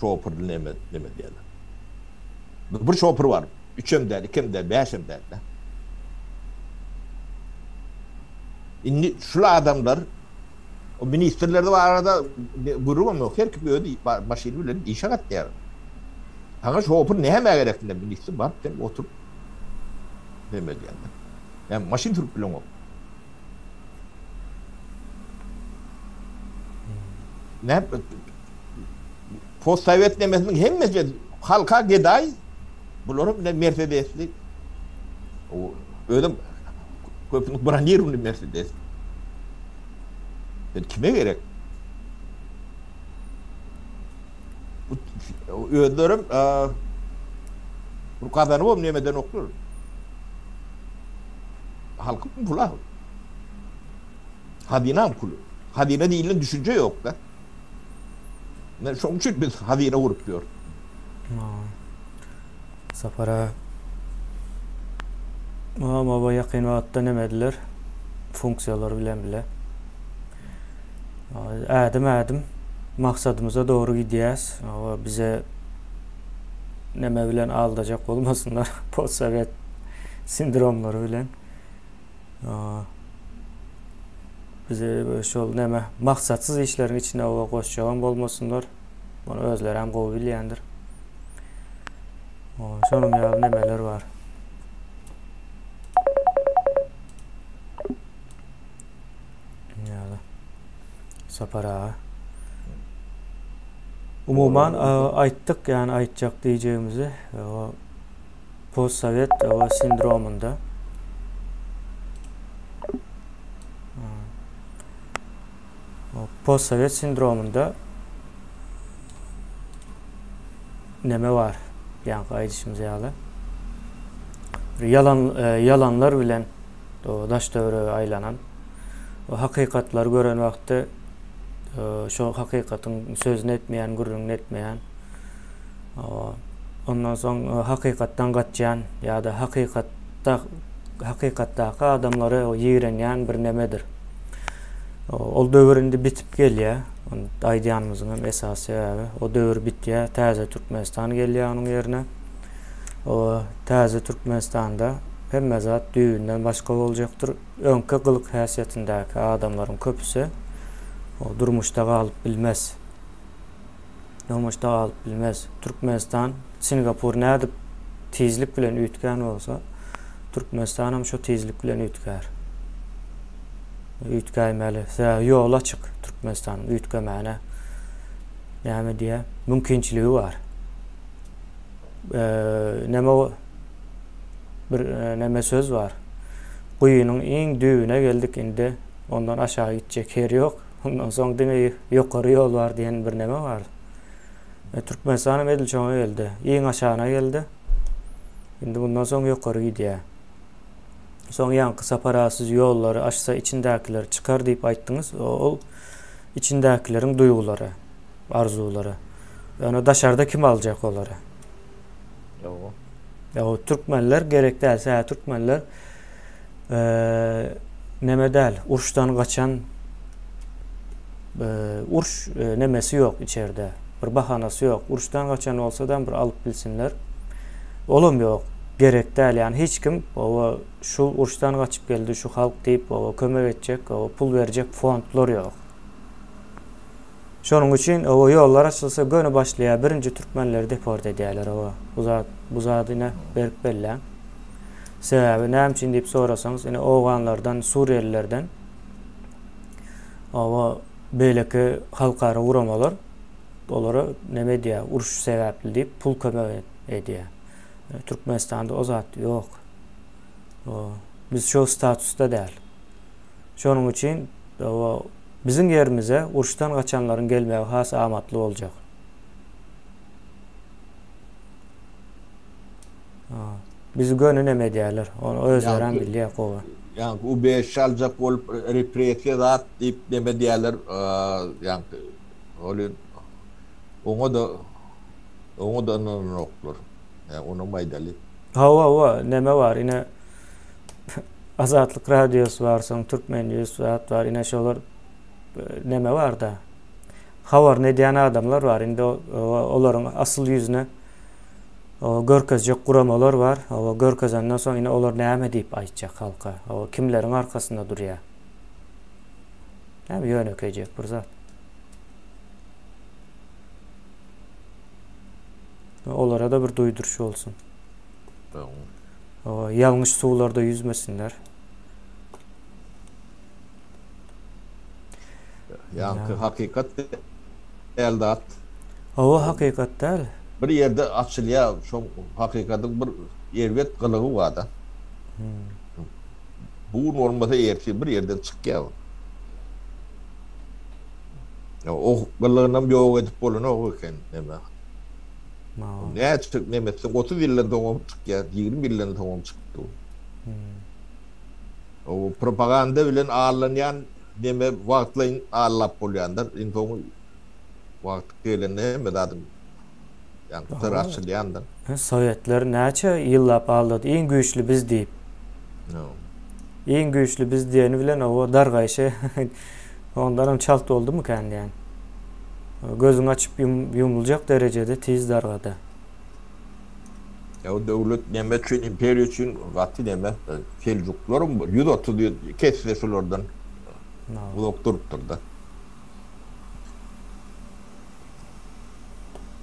şopurly neme neme diýýärler. Bir şopur bar. Üçem däl, ikem däl, bäşem däl-de. Indi şul adamlar O ministrler barada gürrüňem ýok. Her kim öz maşyny bilen işe gatnaýar. Saňa şopur nämä gerek diýen ministr baryp sen otur neme diýende. Näme maşyn sürüp bileňok. Näme Possowet nemesiniň hemmesi halka gedaý, bularyň bile mersedesli, özem köpüniňki bronirowny mersedes. Indi kime gerek? Özlerem bir gazanybam nem edenoklar. Halkyň puly-a. Hazynaň puly. Hazyna diýilen düşünje ýok-da. Men şoň üçin biz hazine gurup ýör. Sapara Mama baba ýakyn wagtda neme ediler? Funksiýalar bilen bile. Ädim ädim maksadymyza dogry gidýäs. Aba bize neme bilen aldajak bolmasynlar. Postsowet sindromlary bilen. Bize şol näme maksatsyz işleriň içine owa goşjagam bolmasynlar. Muny özleri hem gowy bilýändir. Şonuň ýaly nemeler bar. Ýaly. Sapar aga. Umuman aýtdyk, ýani aýtjak diýjegimizi. Postsowet oba sindromynda postsowet sindromynda neme var? Yani aýdyşymyz ýaly. Yalan, e, yalanlar bilen o daş döwre aylanan o hakykatlar gören wagtda e, şu hakykatyn sözüni etmeýän, gürrüňini etmeýän Ondan soň e, hakykatdan gaçýan ýa-da hakykatda hakykatdaky adamlary ýigrenýän bir nemedir. Ol döwür indi bitip gelýär. Aýdýanymyzyň hem esas sebäbi o döwür bitýär, täze Türkmenistan gelýär onuň ýerine. O täze Türkmenistanda hemme zat düýbünden başga boljakdyr. Öňki gylyk häsiýetindäki adamlaryň köpüsi durmuşda galyp bilmez. Nomaşda galyp bilmez. Türkmenistan, Singapur nädip tizlik bilen üýtgän bolsa, Türkmenistan hem şu tizlik bilen üýtgär. Üýtgäýmeli. Sebäbi ýoly açyk Türkmenistanyň üýtgemäne. Näme diýä? Mümkinçiligi bar. E, näme bir e, näme söz bar? Guýynyň iň düýbüne geldik indi. Ondan aşağı gitjek ýer ýok. Ondan soň diňe ýokary ýol bar diýen bir näme bar. E, Türkmenistan hem edil şoňa geldi. Iň aşagyna geldi. Indi bundan soň ýokary gidýär. Soň ýaňky sapar siz ýollary açsa içindäkiler çykar diýip aýtdyňyz. Ol içindäkileriň duýgulary, arzuwlary. Ýöne daşarda kim aljak olary? Ýa türkmenler gerek däl, sä türkmenler Neme däl, urşdan gaçan urş nemesi ýok içerde. Bir bahanasy ýok. Urşdan gaçan bolsadam bir alyp bilsinler. Olam ýok. Gerek däl. Ýani hiç kim oba şu urşdan gaçyp geldi şu halk diýip oba kömek etjek, oba pul berjek fondlar ýok. Şonuň üçin oba ýollar açylsa göni başlaýar birinji türkmenleri deport edýärler oba bu zat bu zat ine berk belläň sebäbi näme üçin diýip sorasaňyz ine owganlardan suriýelilerden oba beýleki halkara guramalar olara näme edýär uruş sebäpli diýip pul kömek edýär türkmenistanda o zat ýok biz şo statusda däl Şonuň üçin biziň ýerimize uruşdan gaçanlaryň gelmegi has amatly boljak. Bizi göni neme edýärler, ony özlerem bilýär gowy. Ýaňky ubejişi aljak bolup repressiýa zat diýip neme edýärler, ýaňky welin oňa-da oňa-da ynananoklar. Onam aýdaly. Hawa, hawa, neme bar ine. Azatlyk radiosy bar, soň Türkmen news zat bar. Ine şolar e, neme bar-da. Habaryny edýän adamlar bar. Indi olaryň asyl ýüzüne o görkezjek guramalar bar. O görkezenden soň ine olar näme diýip aýtjak halka? O kimleriň arkasynda durýar? Näme ýönekeýjek bir zat. Olara da bir duýduryş bolsun. Sag ýalňyş suwlarda ýüzmesinler. Ýaňky hakykat däl zat. Hawa, hakykat däl. Bir ýerde açylýar, şo hakykatyň bir erbet gylygy bar-da. Bu gün bolmasa ertir bir ýerden çykýar bu. O gylygynam ýok edip bolanok eken näme. Maňa. Näçe nem etseň, otuz ýyldan soňam çykýar, ýigrimi ýyldan soňam çykyp dur. O propaganda bilen allanýan neme wagtlaýyn allap bolýandyr. Iň soňy wagty gelende hemme zadyň ýa syry açylýandyr. Sowetler näçe ýyllap aldady, iň güýçli biz diýip. Iň güýçli biz diýeni bilen oba dargaýşy Ondanam çalt boldumykän dän. Gözüň açyp ýumluljak derejede tiz dargady. Ýa döwlet näme üçin imperiýa üçin gaty näme seljuklarym bol ýüz otuz ýyl kesdi şulardan uzak durupdyrda.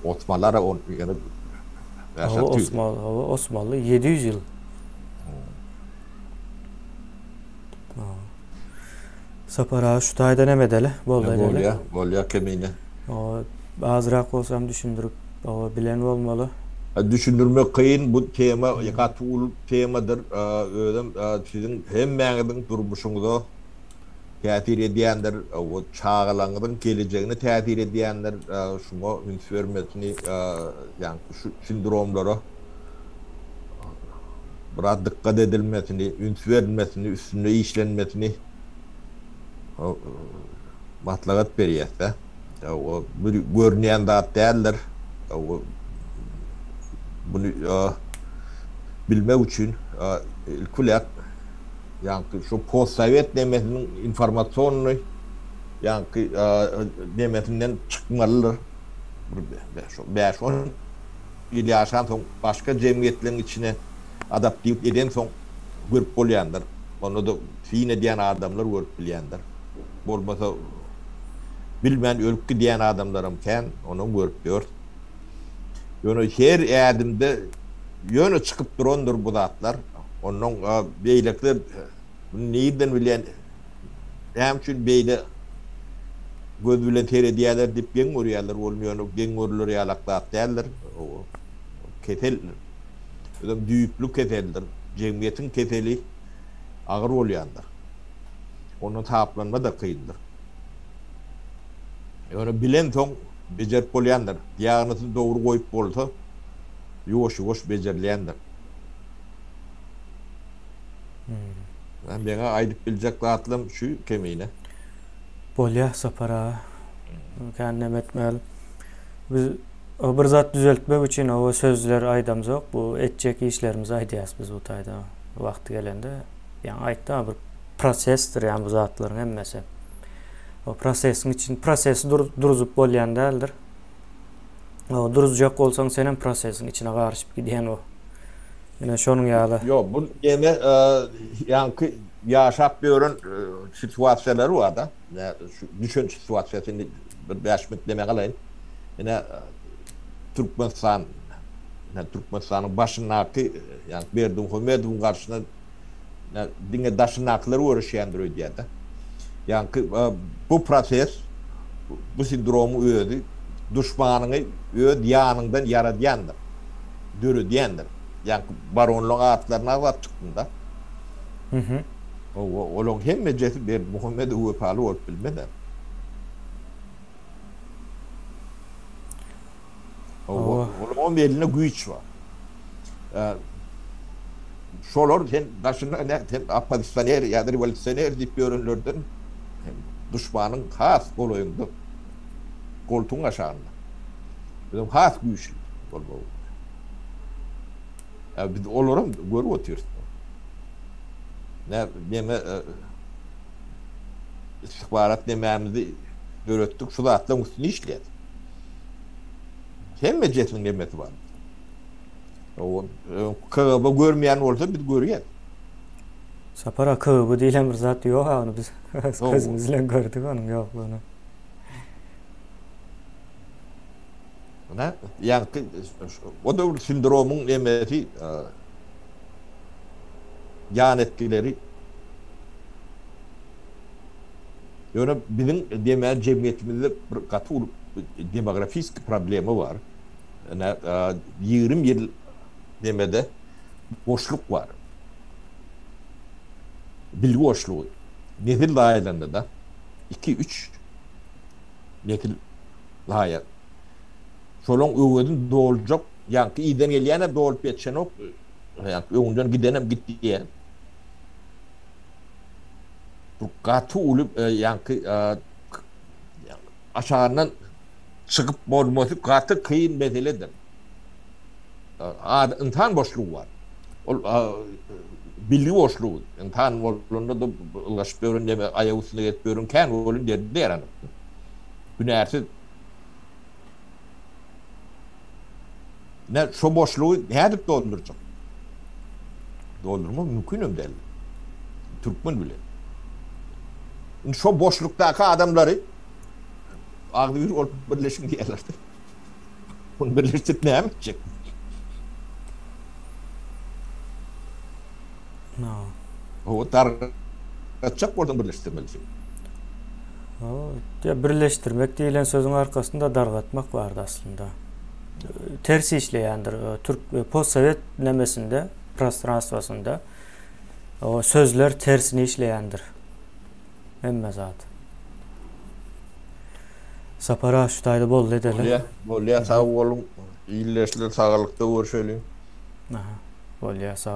Osmanlara on ýyl ýaşap düzdü. Hawa Osmanly ýedi ýüz ýyl. Sapar aga şu taýdan hem edeli. Boldy edeli. Bolýa, bolýa kemine. O azrak bolsam düşündirip, o bilen bolmaly. Düşündirmek kyn, bu tema gaty uly temadyr. Özem siziň hemmäňiziň durmuşyňyza täsir edýändir, o çagalaňyzyň gelejegine täsir edýändir. Şuňa üns bermesini, ýaňky şu sindromlara. biraz dykgat edilmesini, üns berilmesini, üstünde işlenmesini maslahat berýäs-de. Bu bir görünýän zat däldir. Muny bilmek üçin ilki bilen ýaňky şu postsowet nemesiniň informasiýonny ýaňky nemesinden çykmalydyr. Bir bäş-on. ýyl ýaşansoň, başga jemgyýetleriň içine adaptiwlik edensoň görüp bolýandyr. Onda-da syn edýän adamlar görüp bilýändir. Bolmasa bilmän ölüp gidýän adamlaram kän, onam görüp ýör. Ýöne her ädimde ýöne çykyp durandyr bu zatlar. Ondan beýlekiler muny nirden bilýän, Näme üçin beýle göz bilen seredýärler diýip geň görýärler. Ol ýöne geň görüler ýalak zat däldir. Keseldir. Özem düýpli keseldir. Jemgyýetiň keseli agyr bolýandyr. Ondan saplanma-da kyndyr. Ýöne bilensoň bejerip bolýandyr. Diagnozy dogry goýup bolsa, ýuwaş-ýuwaş bejerilýändir. Hä meňe aýdyp biljek zatlam şu kemine. Bolýa Sapar aga. Kän neme etmeli. Biz o bir zat düzeltmek üçin o sözler aýdamzok. Bu etjek işlerimizi aýdýas biz bu taýda. Wagty gelende ýaňy aýtdym bir prosesdir ýaňy bu zatlaryň hemmesi. O prosesiň için prosesi dur, duruzup bolýan däldir. O duruzjak bolsaň sen hem prosesiň içine garyşyp gidýän o. Ine şonuň ýaly. Ýok, bu ýene ýaňky ýaşap ýören situasiýalary bar-da. Şu düşen situasiýasy indi bir bäş minut deme galaýyn. Ine Türkmenistan, Türkmenistanyň başyndaky ýaňky Berdimuhamedowyň garşyna diňe daşyndakylar göreşýändir öýdýärdi. Ýaňky bu proses bu sindromyň özi duşmanyňy öz ýanyňdan ýaradýandyr, döredýändir. Ýaňky baronlaryň atlaryny agzap çykdym-da. Mhm. Hawa, olaryň hemmejesi Berdimuhamedow wepaly bolup bilmez-ä. Hawa. Olaryň elinde güýç bar. Şolar sen daşynda näme sen oppozisioner ýa-da rewolýusioner diýip ýörenlerden duşmanyň has golaýynda, goltugyň aşagynda. Biziň has güýçli bolmagymyz gerek. Ýa biz olaram görüp otyrys. Nä-neme istihbarat nemämizi döretdik, şu zatlaryň üstünde işleýäs. Hemme jesmiň emmesi bar. KGB görmeýän bolsa biz görýäs. Sapar aga KGB diýlen bir zat ýok ony biz gözümiz bilen gördük onuň ýoklugyny. Ana, ýaňky o da bir sindromyň emmesi ýan etkileri Ýöne biziň deme jemgyýetimizde bir gaty uly demografisik problema bar. Ine, ýigrimi ýyl demede boşluk bar. Bilgi boşlugy. Nesil zaýalanda-da, iki, üç nesil zaýa. Şolaň öwezini doljak ýaňky yzdan gelýän-ä dolup ýetişenok, öňden gidenem gitdi. bir gaty uly ýaňky aşagyndan çykyp bolmasy gaty kyn meseledir. Ynsan boşlugy bar. Ol bilgi boşlugy. Ynsan bolanda-da ylgaşyp ýören neme, aýak üstünde gezip ýören kän welin ýerde ýaranok. Hünärsiz. Ine, şo boşlugy nädip doldurjak? Doldurmak mümkin hem däl. Türkmen bilen. Indi şo boşlukdaky adamlary agzy bir bolup birleşiň diýerler-de. Ony birleşdirip näme etjek? Howa dargatjak bolsaň birleşdirmelisin. Howa birleşdirmek diýilen sözüň arkasynda dargatmak bardy aslynda. Ters işleýändir. Türk postsowet nemesinde, prostranstwasynda o sözler tersine işleýändir. Hemme zat. Sapar ağa şu taýda boldy edeli. Bolýa, bolýa sag boluň. Ildeşler sagalykda görüşeli. Aha. Bolýa sag